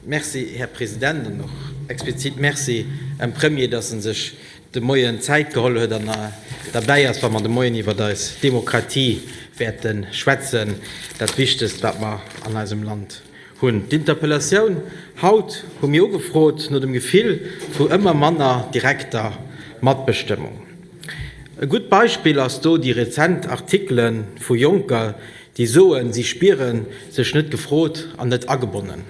Merci, Här President, an och explizit Merci un Premier, dass en sech de Moien Zäit geholl huet an derbäi ass, wa mer de Moien iwwert eis Demokratie wäerte schwätzen, dat Wichtegst, wat mer an eisem Land hunn. D'Interpellatioun haut hu mir ugefrot no dem Gefill vu ëmmer manner direkter Matbestëmmung. E gutt Beispill ass do déi rezent Artikele vu Jonker, Déi soen, si spiere sech net gefrot an net agebonnen.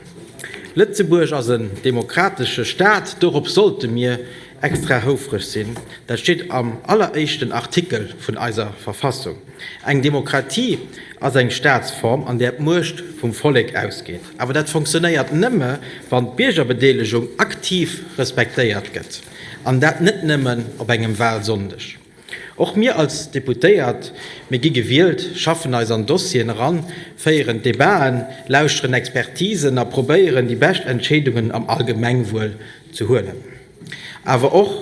Lëtzebuerg ass en demokratesche Staat, dorops sollte mir extra houfreg sinn. Dat steet am alleréischten Artikel vun eiser Verfassung. Eng Demokratie ass eng Staatsform, an där d'Muecht vum Vollek ausgeet. Awer dat funktionéiert nëmme, wann d'Biergerbedeelegung aktiv respektéiert gëtt, an dat net nëmmen op engem Walsonndeg. Och mir als Deputéiert, mir gi gewielt, schaffen eis an Dossieren eran, féieren Debaten, lauschteren Expertisen a probéieren, déi bescht Entscheedungen am Allgemengwuel ze huelen. Awer och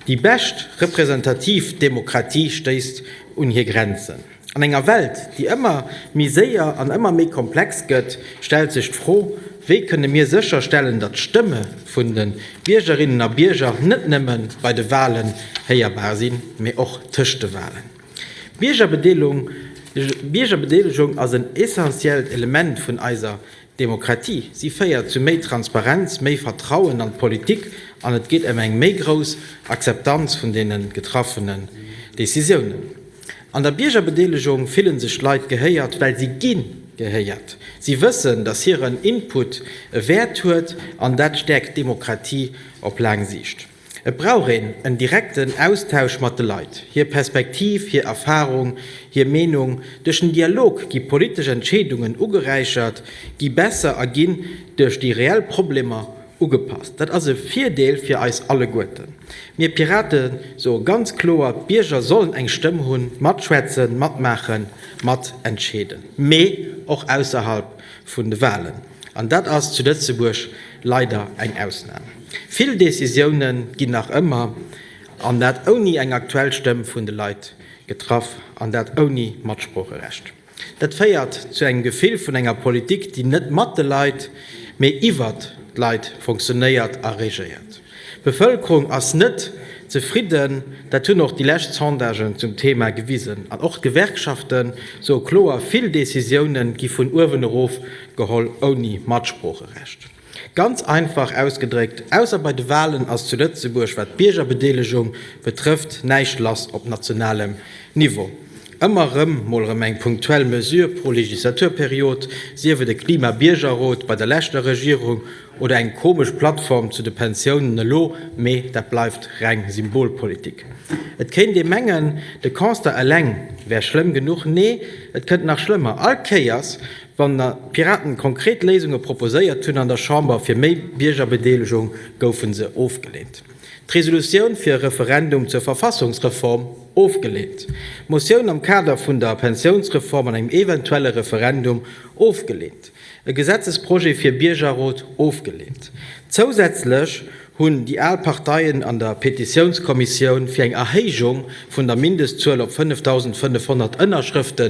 déi bescht representativ Demokratie stéisst un hir Grenzen. An enger Welt, déi ëmmer méi séier an ëmmer méi komplex gëtt, stellt sech d'Fro, Wéi kënne mir sécherstellen, datt d'Stëmme vun de Biergerinnen a Bierger net nëmme bei de Walen héierbar sinn, mee och tëscht de Walen? D'Biergerbedelegung ass en essentiellt Element vun eiser Demokratie. Si féiert zu méi Transparenz, méi Vertrauen an d'Politik an et geet ëm eng méi grouss Akzeptanz vun deene getraffene Decisiounen. An der Biergerbedeelegung fillen sech d'Leit gehéiert, well si gi gehéiert. Si wëssen, datt hiren Input e Wäert huet an dat stäerkt d'Demokratie op laang Siicht. Et brauch een en direkten Austausch mat de Leit. Hir Perspektiv, hir Erfarung, hir Meenung. Duerch den Dialog gi politesch Entscheedungen ugeräichert, gi besser a ginn duerch déi reell Problemer Ugepasst. Dat ass e Virdeel fir eis alleguerten. Mir Pirate soe ganz kloer, d'Bierger sollen eng Stëmm hunn, matschwätzen, matmaachen, mat entscheeden, mee och ausserhalb vun de Wahlen. An dat ass zu Lëtzebuerg leider eng Ausnam. Vill Decisioune ginn nach ëmmer, an dat ouni eng aktuell Stëmm vun de Leit, getraff, an dat ouni Matsproocherecht. Dat féiert zu engem Gefill vun enger Politik, déi net mat de Leit, mee iwwer d'Leit funktionéiert a regéiert. D'Bevëlkerung ass net zefridden, dat hunn och déi lescht Sondagen zum Thema gewisen. An och d'Gewerkschafte soe kloer, vill Decisiounen gi vun uewen erof geholl, ouni Matsproocherecht. Ganz einfach ausgedréckt, ausser bei de Walen ass zu Lëtzebuerg, wat d'Biergerbedeelegung betrëfft, näischt lass op nationalem Niveau. Ëmmer erëm mol erëm eng punktuell Mesure pro Legislaturperiod, sief et e Klima-Biergerrot bei der leschter Regierung oder eng komesch Plattform zu de Pensiounen elo, mee dat bleift reng Symbolpolitik. Et kéint ee mengen, de Constat eleng wär schlëmm genuch, nee, et kënnt nach schlëmmer, all Kéiers Wann d'Piraten konkret Léisunge proposéiert hunn an der Chamber fir méi Biergerbedeelegung, goufe se ofgeleent. D'Resolutioun fir e Referendum zur Verfassungsreform, ofgeleent. D'Motioun am Kader vun der Pensiounsreform an engem eventuelle Referendum, ofgeleent. E Gesetzesprojet fir Biergerrot, ofgeleent. Zousätzlech hunn déi al Parteien an der Petitiounskommissioun fir eng Erhéijung vun der Mindestzuel op 5.500 Ënnerschrëfte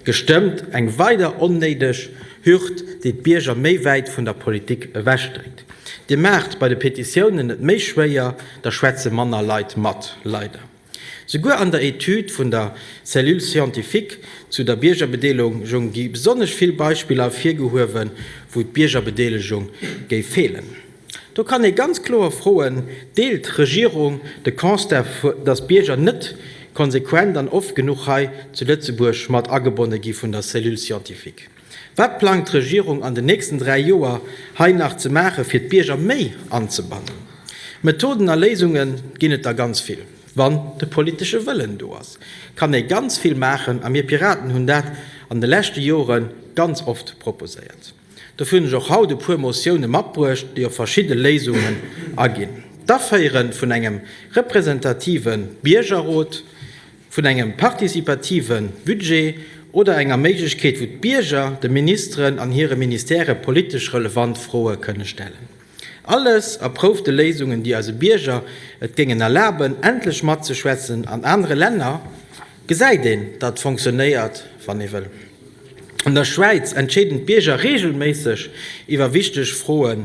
gestëmmt, eng weider onnéideg Hürd, déi d'Bierger méi wäit vun der Politik ewech dréckt. Dir maacht bei de Petitiounen et méi schwéier, da schwätze manner Leit mat, leider. Souguer an der Etüd vun der Cellule scientifique zu der Biergerbedeelegung gi besonnesch vill Beispiller ervirgehuewen, wou d'Biergerbedeelegung géif feelen. Do kann ee ganz kloer froen, Deelt d'Regierung de Constat, datt d'Bierger net konsequent an oft genuch hei zu Lëtzebuerg mat agebonne gi vun der Cellule scientifique? Wat plangt d'Regierung an den nächsten dräi Joer hei nach ze maachen, fir d'Bierger méi anzebannen? Methoden a Léisunge ginn et der ganz vill. Wann de politesche Wëllen do ass, kann ee ganz vill maachen a mir Piraten hunn dat an de leschte Jore ganz oft proposéiert. Dofir hunn ech och haut e puer Motioune matbruecht, déi op verschidde Léisungen aginn. D'Aféiere vun engem representative Biergerrot, vun engem participative Budget oder enger Méiglechkeet, wou d'Bierger de Ministeren an hire Ministèrë politesch relevant Froe kënne stellen. Alles erproufte Léisungen, déi eise Bierger et géingen erlaben, endlech matzeschwätzen. An anere Länner gesäit een, datt et fonctionéiert, wann ee wëll. An der Schwäiz entscheeden d'Bierger reegelméisseg iwwer wichteg Froe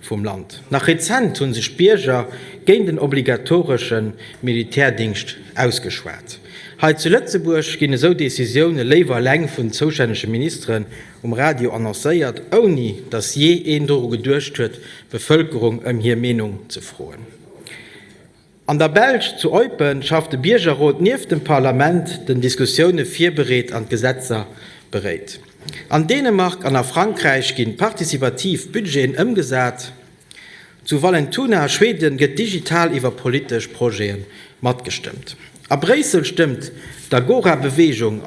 vum Land. Nach rezent hu sech d'Bierger géint en obligatoresche Militärdingscht ausgeschwat. Hei zu Lëtzebuerg ginn esou Decisioune léiwer eleng vun zoustännege Ministeren um Radio annoncéiert, ouni datt jee een doru geduecht huet, d'Bevëlkerung ëm hir Meenung ze froen. An der Belsch, zu Eupen, schafft de Biergerrot nieft dem Parlament, den Diskussioune virbereet an d'Gesetzer beréit. An Dänemark an a Frankräich ginn participativ Budgeten ëmgesat. Zu Vallentuna a Schweden gëtt digital iwwer politesch Projete matgestëmmt. A Bréissel stëmmt d'Agora-Beweegung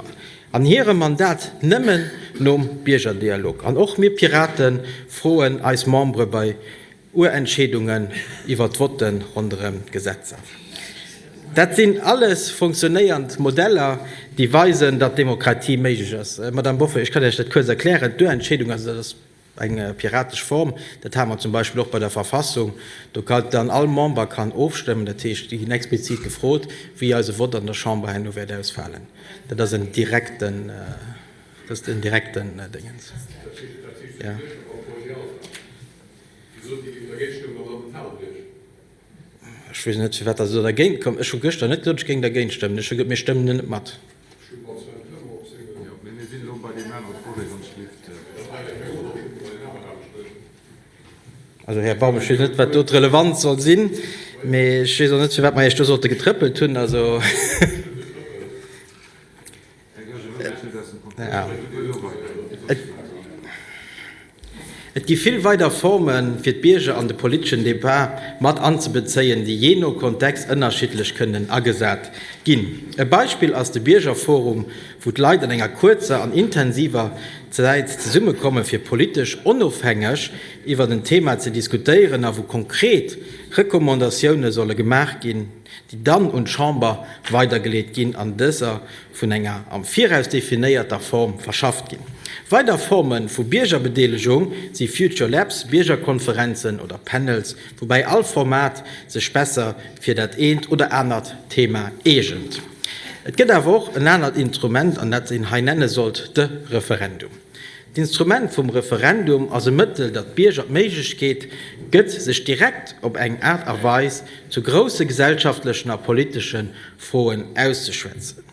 an hirem Mandat nëmmen nom Biergerdialog. An och mir Piraten froen eis Membere bei Uer Entscheedungen iwwer d'Votte ronderëm d'Gesetzer. Dat sinn alles funktionéiernd Modeller, déi weisen, datt Demokratie méiglech ass. Madame Boffo, ech kann Iech dat kuerz erklären. D'Uerentscheedung, also dat ass eng piratesch Form, dat hate mer zum Beispill och bei der Verfassung, do kann dann all Member kann ofstëmmen, dat heescht, déi ginn explizit gefrot, wéi eise Vott an der Chamber herno wäert ausfalen. Dat ass en direkten, dat ass en direkten Déngens. Ech weess net, firwat Der do dergéint kommt. Ech hu gëschter net gesot, ech géing dergéint stëmmen. Ech hu gesot, mir stëmmen en net mat. Also, Här Baum, ech weess net, wat do d'Relevanz soll sinn, mä ech weess och net, firwat mer Iech do sollte getrëppelt hunn. Also. Et gi vill weider Formen, fir d'Bierger an de politeschen Debat mat anzebezéien, déi jee no Kontext ënnerschiddlech kënnen agesat ginn. E Beispill ass de Biergerforum, wou d'Leit an enger kuerzer an intensiver Zäit zesummekommen, fir politesch onofhängeg iwwert en Thema ze diskutéieren a wou konkret Recommandatioune solle gemaach ginn, déi dann un d'Chamber weidergeleet ginn an dëser vun enger am Viraus definéierter Form verschafft ginn. Weider Forme vu Biergerbedeelegung si Future Labs, Biergerkonferenzen oder Panels, woubäi all Format sech besser fir dat eent oder anert Thema eegent. Et gëtt awer och en anert Intrument, an dat een hei nenne sollt, de Referendum. D'Instrument vum Referendum ass e Mëttel, dat d'Bierger d'Méiglechkeet gëtt, sech direkt op eng Aart a Weis zu grousse gesellschaftlechen a politesche Froen auszeschwätzen.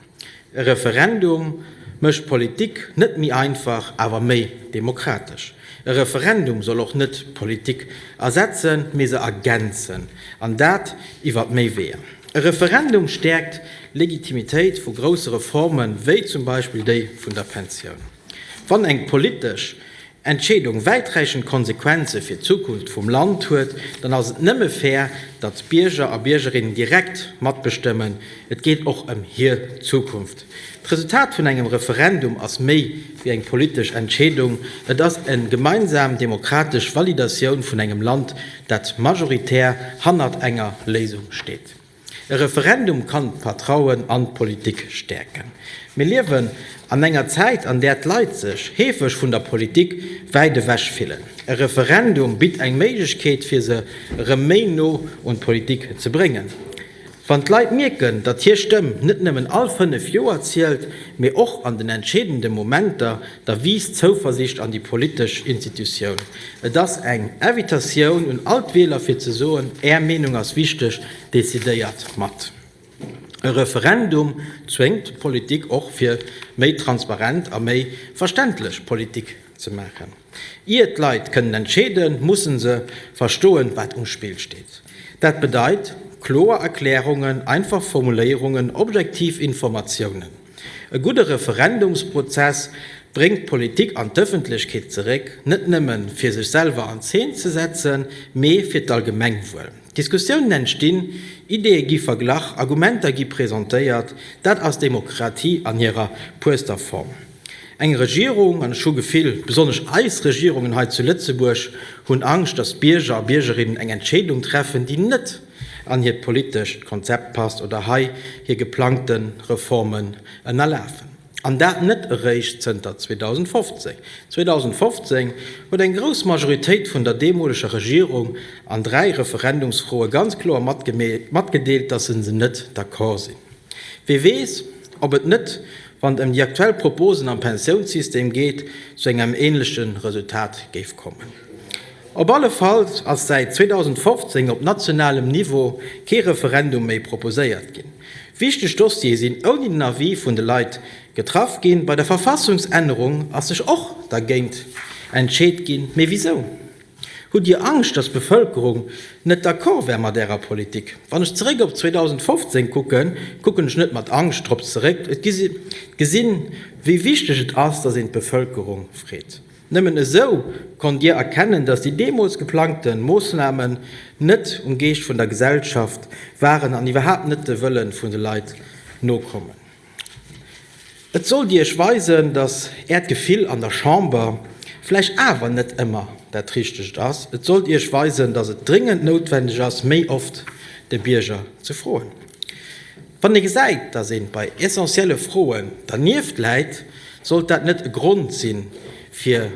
E Referendum mécht d'Politik net méi einfach, awer méi demokratesch. E Referendum soll och net d'Politik ersetzen, mee se ergänzen, an dat iwwert méi Weeër. E Referendum stäerkt Legitimitéit vu grousse Reforme wéi zum Beispill déi vun der Pensioun. Wann eng politesch Entscheedung wäiträichend Konsequenze fir d'Zukunft vum Land huet, dann ass et nëmme fair, datt d'Bierger a Biergerinnen direkt matbestëmmen. Et geet och ëm hir Zukunft. D'Resultat vun engem Referendum ass méi wéi eng politesch Entscheedung, et ass e gemeinsam demokratesch Validatioun vun engem Land, dat majoritär hannert enger Léisung steet. E Referendum kann d'Vertrauen an d'Politik stäerken. Mir liewen an enger Zäit, an där d'Leit sech heefeg vun der Politik wäit ewech fillen. E Referendum bitt eng Méiglechkeet, fir se erëm méi no un d'Politik ze bréngen. Wann d'Leit mierken, datt hir Stëmm net nëmmen all fënnef Joer zielt, mee och an den entscheedende Momenter, Da wiisst d'Zouversicht an déi politesch Institutioun. Et ass eng Invitatioun un all d'Wieler fir ze soen, Är Meenung ass wichteg, decidéiert mat. E Referendum zwéngt d'Politik och fir méi transparent a méi verständlech Politik ze maachen. Ier d'Leit kënnen entscheeden, mussen se verstoen, wat um Spill steet. Dat bedeit kloer Erklärungen, einfach Formuléierungen, objektiv Informatiounen. E gudde Referendumsprozess bréngt d'Politik an d'Ëffentlechkeet zeréck, net nëmme fir sech selwer an Zeen ze setzen, mee fir d'Allgemengwuel. Diskussiounen entstinn, Ideeë gi verglach, Argumenter gi presentéiert. Dat ass Demokratie an hirer puerster Form. Eng Regierung, an ech hu Gefill, besonnesch eis Regierungen hei zu Lëtzebuerg hunn Angscht, datt d'Bierger a Biergerinnen eng Entscheedung treffen, déi net an hiert politescht Konzept passt oder hei hir geplangte Reformen ënnerlafen. An dat net eréischt zënter 2015. 2015 huet eng grouss Majoritéit vun der deemoleger Regierung an dräi Referendumsfroe ganz kloer matgedeelt, datt se se net d'accord sinn. Wie weess, ob et net, wann et ëm déi aktuell Proposen am Pensiounssystem geet, zu engem änleche Resultat géif kommen. Op alle Fall ass säit 2015 op nationalem Niveau kee Referendum méi proposéiert ginn. Wichteg Dossiere sinn ouni den Avis vun de Leit getraff ginn. Bei der Verfassungsännerung ass sech och dergéint entscheet ginn. Mee wisou? Hutt Dir Angscht, datt d'Bevëlkerung net d'accord wär mat Ärer Politik? Wann ech zeréck op 2015 kucken, kucken ech net mat Angscht drop zeréck. Ech gesi, wéi wichteg et ass, datt een d'Bevëlkerung freet. Nëmmen esou konnt Dir erkennen, dass déi deemools geplangte Moossnamen net um Geescht vun der Gesellschaft waren an iwwerhaapt net de Wëlle vun de Leit nokommen. Et sollt Iech weisen, dass Äert Gefill an der Chamber vläicht awer net ëmmer dat Richtegt ass. Et sollt Iech weisen, dass et dringend noutwendeg ass, méi oft de Bierger ze froen. Wann ee gesäit, datt ee bei essentielle Froen dernieft läit, sollt dat net e Grond sinn, fir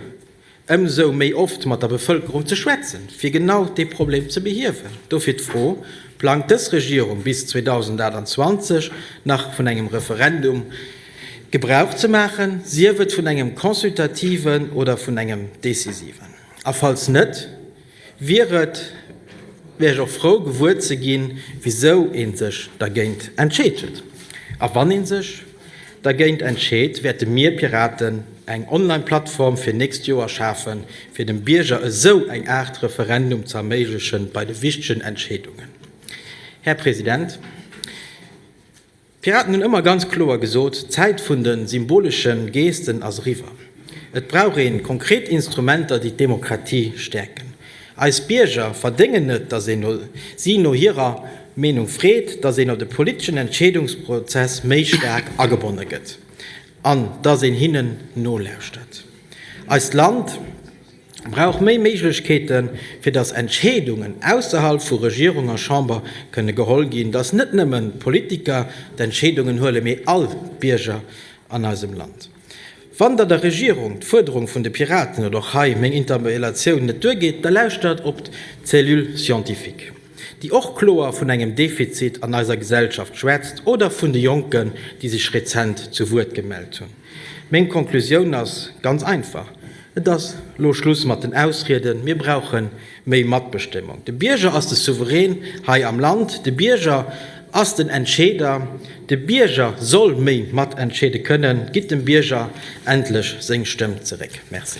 ëmsou méi oft mat der Bevëlkerung ze schwätzen, fir genau dee Problem ze behiewen? Dofir d'Fro, Plangt dës Regierung bis 2028 nach vun engem Referendum Gebrauch ze maachen, sief et vun engem consultativen oder vun engem decisiven? A falls net, wier et, wier ech och frou gewuer ze ginn, wisou ee sech dergéint entscheet huet. A wann ee sech dergéint entscheet, wäerte mir Piraten eng Online-Plattform fir nächst Joer schafen, fir dem Bierger esou eng Aart Referendum ze erméiglechen bei de wichtegen Entscheedungen. Här President, D'Piraten hunn ëmmer ganz kloer gesot, d'Zäit vun de symbolesche Gesten ass eriwwer. Et brauch ee konkret Instrumenter, déi d'Demokratie stäerken. Eis Bierger verdéngen net, datt een si no hirer Meenung freet, datt een an de politeschen Entscheedungsprozess méi staark agebonne gëtt an datt een hinnen nolauschtert. Eist Land. brauch méi Méiglechkeeten, fir dass Entscheedungen ausserhalb vu Regierung a Chamber kënne geholl ginn, dass net nëmmen d'Politiker d'Entscheedungen huelen, mee all Bierger an eisem Land. Wann Der der Regierung d'Fuerderung vun de Piraten oder och hei meng Interpellatioun net duergeet, da lauschtert op d'Cellule scientifique. déi och kloer vun engem Defizit an eiser Gesellschaft schwätzt, oder vun de Jonken, déi sech rezent zu Wuert gemellt hunn. Meng Konklusioun ass ganz einfach, Et ass elo Schluss mat den Ausrieden. Mir brauche méi Matbestëmmung. De Bierger ass de Souverän hei am Land. De Bierger ass den Entscheeder. De Bierger soll méi matentscheede kënnen. Gitt dem Bierger endlech seng Stëmm zeréck. Merci.